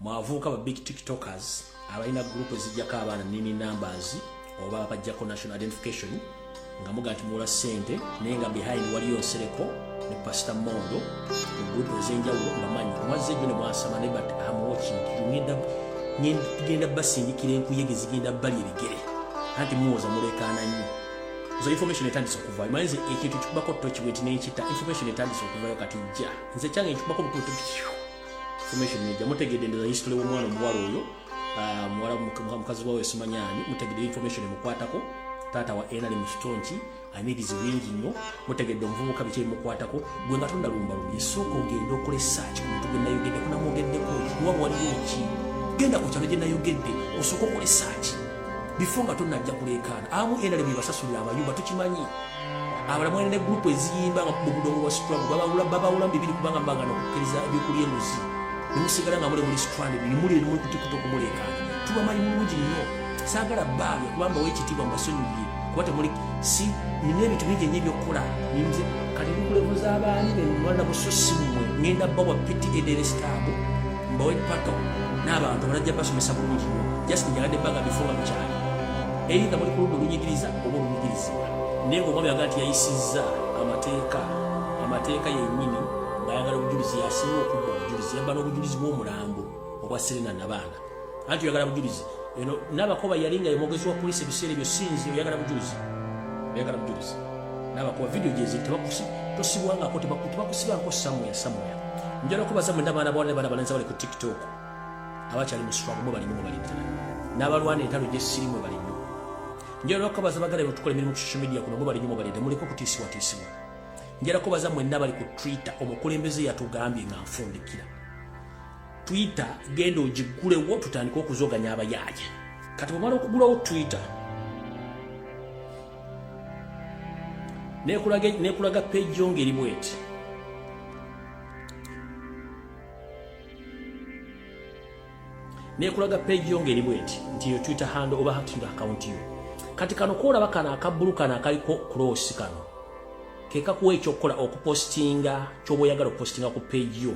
mwavuuka ba big tiktokers abalina gurupu ezijjako abaana nini numbers oba bajjako national identification nga muga nti muwola ssente naye nga behind waliyo nsereko ne pasita mondo mu gurupu ezenjawulo mbamanyi mwazze jjo ne mwasama ne but am watching ngenda ngenda basindikira enkuyege zigenda bali ebigere anti muwoza mulekaana nnyo nze information etandise okuvayo manye nze ekintu kikubako toki weti nenkita information etandise okuvayo kati jja nze kyange nkikubako bukutu information neja mutegedde ndoza history womwana omuwala oyo ah, muwala mukazi wawe esimanyani mutegedde information emukwatako taata wa ena li mukitonki alina ebizibu bingi nnyo mutegedde omuvubuka biki ebimukwatako gwe nga tondalumbalumye sooka ogende okola esaaki ku muntu gwenayogedde kunamwogeddeko kuba waliwo ki genda ku kyalo gyenayogedde osooka okola esaaki bifo nga tonajja kuleekaana amu enale bwebasasulira abayumba tukimanyi abala mwene ne gurupu eziyimba nga mu budongo bwa situlamu babawula mu bibiri kubanga mbanga nokukkiriza ebyokulya enguzi nemusigala nga mule muli situlani bimuli nemuli kutikuta okumuleekaana tubamanyi mulungi nnyo saagala baabe kubamba wekitiibwa mbasonyiye kuba temuli si nina ebintu bingi enyo ebyokukola ninze kati nikulebuza abaani bemwana bususimwe ngenda bawa piti ederesitaabu mbowe pato n'abantu balajja basomesa bulungi nyo just njagadde baga bifuba mukyali eitha muli kuludda olunyigiriza oba olunyigirizibwa naye ngaomwami aga nti yayisizza amateeka amateeka yennyini ng'ayagala obujulizi yasinga okudda obujulizi yabbana obujulizi bw'omulambo obwa serena nabaana anti oyagala bujulizi eno nabakoba yali nga yemwogezi wa polisi ebiseera ebyo sinzi oyagala bujulizi oyagala bujulizi nabakoba vidiyo gyeziri tebakusi tosibwangako tebakusibangako samuya samuya njala okubaza mwena abaana bawala nebaana balenzi abali ku tiktok abakyali mu swago mwe balimu mwebali ddala n'abalwana entalo gyesiri mwe balimu njala okubaza bagala betukola emirimu ku social media kuno mwe balimu mwebali ddala muliko kutiisibwatiisibwa njala kubaza mwena abali ku twitter omukulembeze yatugambye nga nfundikira twitter genda ogigulewo tutandike okuzoganya abayaaye kati bwemala okugulawo twitter nekulaga peji yo ngeri bweti nekulaga peji yo ngeri bweti nti yo twitter hand oba hakindo akawunti yo kati kano kolaba kano akabbulu kano akaliko kulosi kano kekakuwa ekyokukola okupostinga kyoba oyagala okupostinga ku peji yo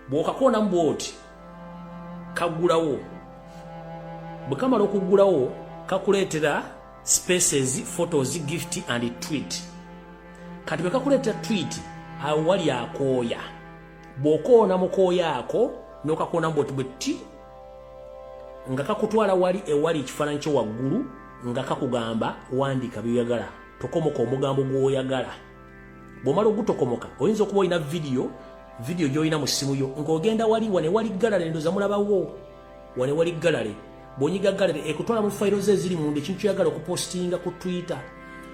bw'okakoonamu bw'oti kaggulawo bwe kamala okuggulawo kakuleetera spaces photos gift and tweet kati bwe kakuleetera tweet awo wali akooya bw'okoona mu kooya ako n'okakoonamu bwoti bwe ti nga kakutwala wali ewali ekifaananyi kyo waggulu nga kakugamba wandiika byoyagala tokomoka omugambo gw'oyagala bwomala ogutokomoka oyinza okuba olina vidiyo vidiyo gyolina mu ssimu yo ng'ogenda wali wane wali galale ndoza mulabawo wane wali galale bwonyiga galale ekutwala mu fayiro ze eziri munda ekintu kyoyagala okupostinga ku twitter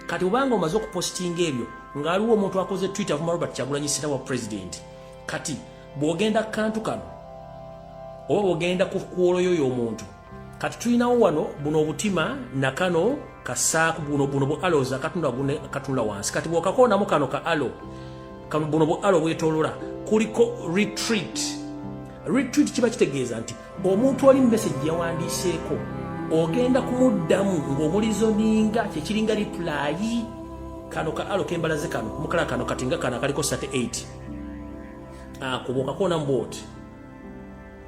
kati obanga omaze okupostinga ebyo ng'aliwo omuntu akoze twitter avuma robert kyagulanyi sina wa president kati bwogenda kantu kano oba bwogenda ku kwoloyo y'omuntu kati tulinawo wano buno obutima nakano kasaaku buno buno bu alos akatunula wansi kati bwokakoonamu kano ka alo buno bu alo bwetolola kuliko retreat retreat kiba kitegeeza nti omuntu oli mumesagi yawandiiseeko ogenda kumuddamu ng'omulizo ninga kyekiringa ripulayi kano ka alo kembalaze kano mukala kano katinga kano akaliko sate 8 akubokakoonamu bwoti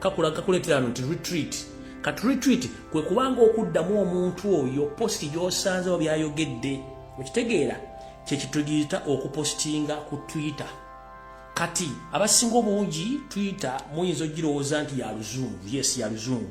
kakula kakuletera nti retreat kati retreat kwe kubanga okuddamu omuntu oyo posti gy'osanzewo byayogedde okitegeera kyekitugiyita okupostinga ku twitter kati abasinga obungi twitter muyinza ogirowooza nti ya luzungu yes ya luzungu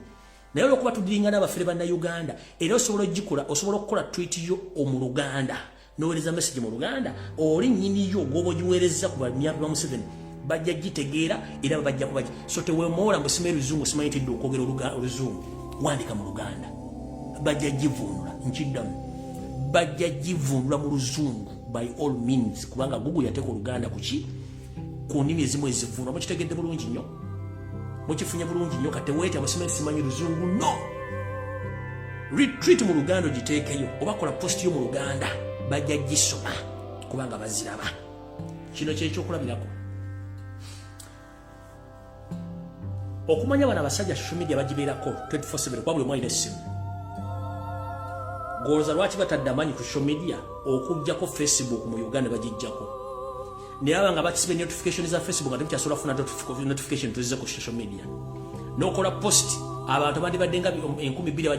naye olwokuba tudiringa n'abafere bannauganda era osobola ogikola osobola okukola twit yo omu luganda nowereza message mu luganda oli nyini yo gwobo jiwereza ku bamyapi ba Museveni bajja jitegeera era babajja kuba so tewemoola mbu simanyi luzungu simanyi tidde okwogera oluzungu wandika mu luganda bajja jivunula nkiddamu bajja jivunula mu luzungu by all means kubanga gugu yateeka oluganda kuki ku nnimi ezimu ezivuunwa mukitegedde bulungi nnyo mukifunye bulungi nnyo kati weeta musima simanyi luzungu no retreat mu luganda ogiteekeyo oba kola post yo mu luganda bajja gisoma kubanga baziraba kino kyekyokulabirako okumanya bano abasajja social media bagibeerako 24/7 kuba buli omu alina essimu goloza lwaki batadde amaanyi ku social media okujjako facebook mu uganda bagijjako naye abanga bakisibe notification za facebook nga temukyasoola kufuna notification tuzize ku social media nokola post abantu abandi baddenga enkumi bbiri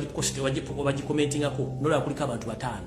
bagikomentingako nolaba kuliko abantu bataano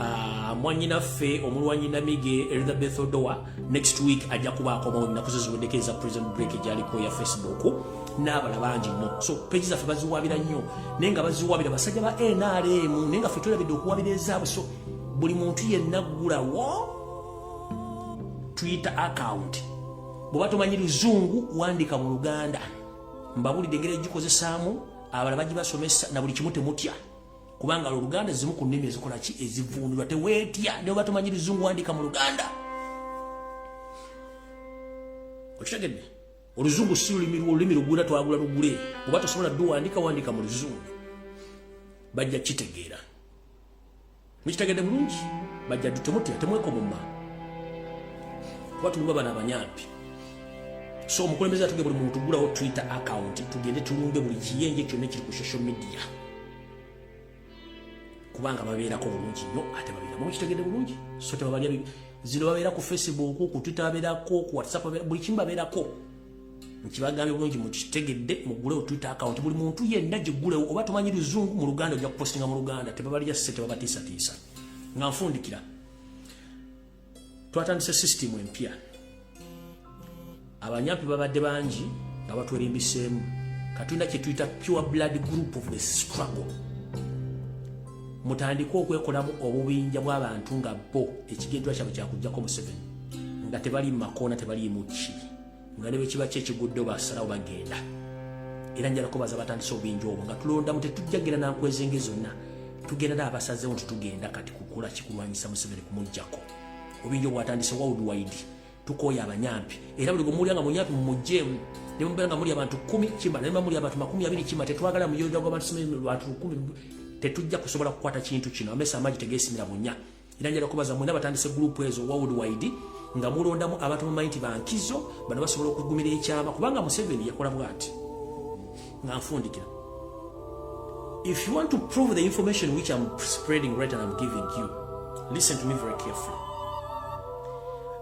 Ah, mwanyinaffe omulwanyi namige elizabeth odoa next week ajja kuba akomawo nnaku ze ziweddeko eza prison break egyaliko ya facebook n'abala bangi nnyo so peji zaffe baziwabira nnyo naye nga baziwabira basajja ba nrm naye nga fe tulabidde okuwabira ezaabwe so buli muntu yenna ggulawo twitter account bweoba tomanyi luzungu wandika mu luganda mbabulidde engeri egikozesaamu abala bagibasomesa na buli kimu temutya kubanga oluganda zimu ku nnimi ezikola ki ezivundulwa teweetya ne oba tomanyi luzungu wandika mu luganda okitegedde oluzungu si lulimi lwo olulimi lugula twagula lugule oba tosobola ddu wandika wandika mu luzungu bajja kitegeera mukitegedde bulungi bajja ddu temutya temwekomuma kuba tuluba bana abanyampi so omukulembeze atuge buli muntu gulawo twitter account tugende tulunge buli kiyenje kyonna ekiri ku social media kubanga babeerako bulungi nnyo ate babeeramu kitegede bulungi so tebabalya zino babeera ku facebook ku twitter babeerako ku whatsapp buli kimu babeerako nkibagambye bulungi mukitegedde mugule otwitter account buli muntu yenna gigulewo oba tomanyi luzungu mu luganda ojja kupostinga mu luganda tebabalya se tebabatiisatiisa nga nfundikira twatandise system empya abanyampi babadde bangi nga batwerimbiseemu katulina kyetuyita pure blood group of the struggle mutandike okwekolamu obubinja bw'abantu nga bo ekigendwa kyabwe kyakujjako museveni nga tebali mumakoona tebali muki nga ne bwe kiba ki ekiguddewo basalawo bagenda era njala kubaza batandise obinja obwo nga tulondamu tetujjagira nankwezenge zonna tugendada abasazewo nti tugenda kati kukola kikulwanyisa museveni kumugjako obinja obwatandise wawudwaidi tukoya abanyampi era buli gwemuwulira nga munyampi mumujemu nemubeera nga muli abantu kumi kima naye muli abantu makumi abiri kima tetwagala muyoja gwabantu bantu kumi tetujja kusobola kukwata kintu kino amesa amaji tegesimira bunya era njala kubaza mwena batandise group ezo worldwide nga mulondamu abantu mumanyi nti bankizo bano basobola okugumira ekyama kubanga museveni yakola bwati nga nfundikira if you want to prove the information which am spreading right and am giving you listen to me very carefully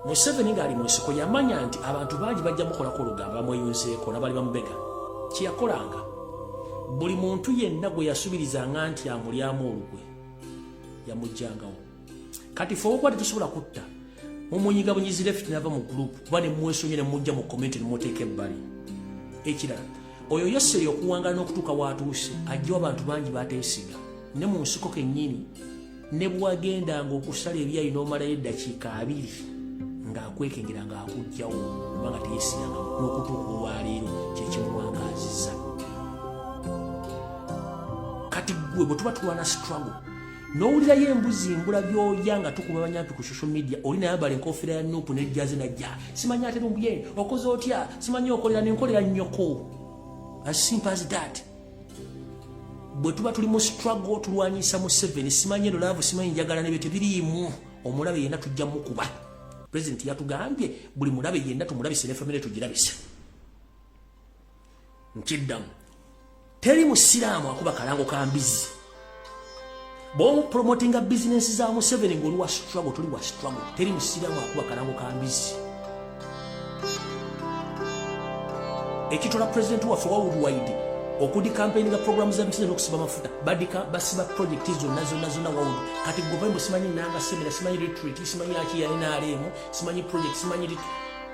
museveni ngaali mu nsiko yamanya nti abantu bangi bajja mukolako olugambo bamweyunzeeko nabali bamubega kyeyakolanga buli muntu yenna gwe yasubirizanga nti amulyamu olukwe yamujjangawo kati fe okuba tetusobola kutta mumunyiga bunyizi left nava mu group kuba ne mwesonye ne mujja mu comment ne muteeka ebbali ekirala oyo yeseri okuwangala n'okutuuka watuuse ajjawo abantu bangi bateesiga ne mu nsiko kennyini ne bwagendanga okusala ebyayi n'omalayo eddakiika abiri ng'akwekengera ng'akugjawo kubanga teyesiganga n'okutuuka olwaleero kyekimuwangaaziza kati gwe bwe tuba tulwana struggle nowulirayo embuzi mbula byoya nga tukuba banyampi ku social media oli nayambala enkofiira ya nupu nejjaze najja simanyi ate lumbuye okoze otya simanyi okolera nenkolera nyoko as simple as that bwe tuba tuli mu struggle tulwanyisa mu seven simanyi eno laavu simanyi njagala nebyo tebiriimu omulabe yenna tujja mukuba president yatugambye buli mulabe yenna tumulabise ne famire tugirabise nkiddamu teri musiraamu akuba kalango ka mbizi bwomupromotinga bizinensi za museveni ngaoli wa struggle toli wa struggle teri musiraamu akuba kalango ka mbizi ekitola pulezidenti waffe wa worldwide okudi kampeyini ga programu za museveni okusiba amafuta badika basiba projekiti zonna zonna zonna wawudu kati government simanyi nanga semera simanyi retreat simanyi akiyalinaaleemu simanyi project simanyi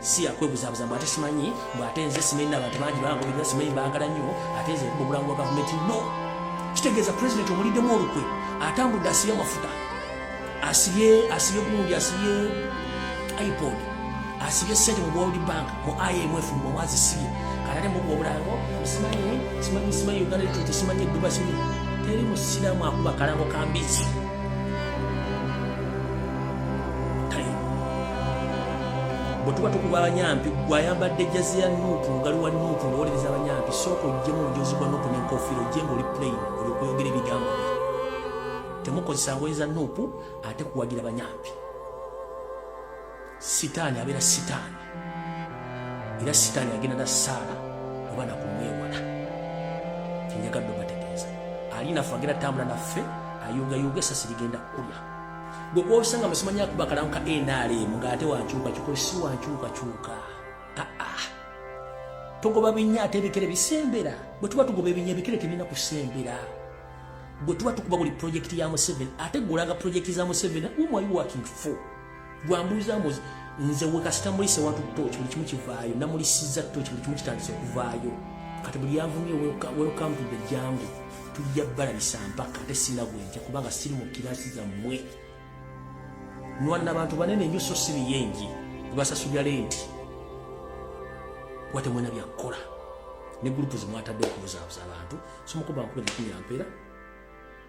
si yakwebuzabuza mbu ate simanyi mbu ate nze simanyi nabantu bangi bangobirira simanyi baagala nnyo ate nze mu bulango bwa gavumenti no kitegeeza pulezidenti omuliddemu olukwe atambudde asibye amafuta asibye asibye gundi asibye ipod asibye sente mu world bank mu imf mu mwazisibye kanate mu obulango simanyi simanyi simanyi uganda lituti simanyi eduba simanyi teri musiramu akuba kalango kambizi bwetuba tukuba abanyampi gwayambadde jazi ya nuupu lugali wa nuupu ngawolereza abanyampi sooka ojjemu omujozi gwa nuupu nenkofiira ojje ngaoli plain oli okweyogera ebigambo bye temukozesa ngoye za nuupu ate kuwagira banyampi sitaani abeera sitaani era sitaani agenda na saala oba nakumwewala kyenjagadde obategeeza alinafe agenda tambula naffe ayungayunga esasi ligenda kukulya gwe kwosanga musimanya akuba kalanka nrm ngaate wankyuka kyuka si wankyuka kyuka aa togoba binya ate ebikere bisembera bwe tuba tugoba ebinya ebikere tebirina kusembera bwe tuba tukuba buli projekiti ya museveni ate gulaga projekiti za museveni whom are you working for gwambuuza mbuzi nze wekasita mulise watu toki buli kimu kivaayo namulisiza toki buli kimu kitandise okuvaayo kati buli yavumye welcome to the jangu tujja balabisa mpaka ate sina bwenja kubanga siri mu kirasi zammwe nwanna bantu banene nyo so si biyengi basasulira lenti kuba temwena byakukola ne gurupu zimwatadde okubuzabuza abantu somukuba nkuba ebikumira mpeera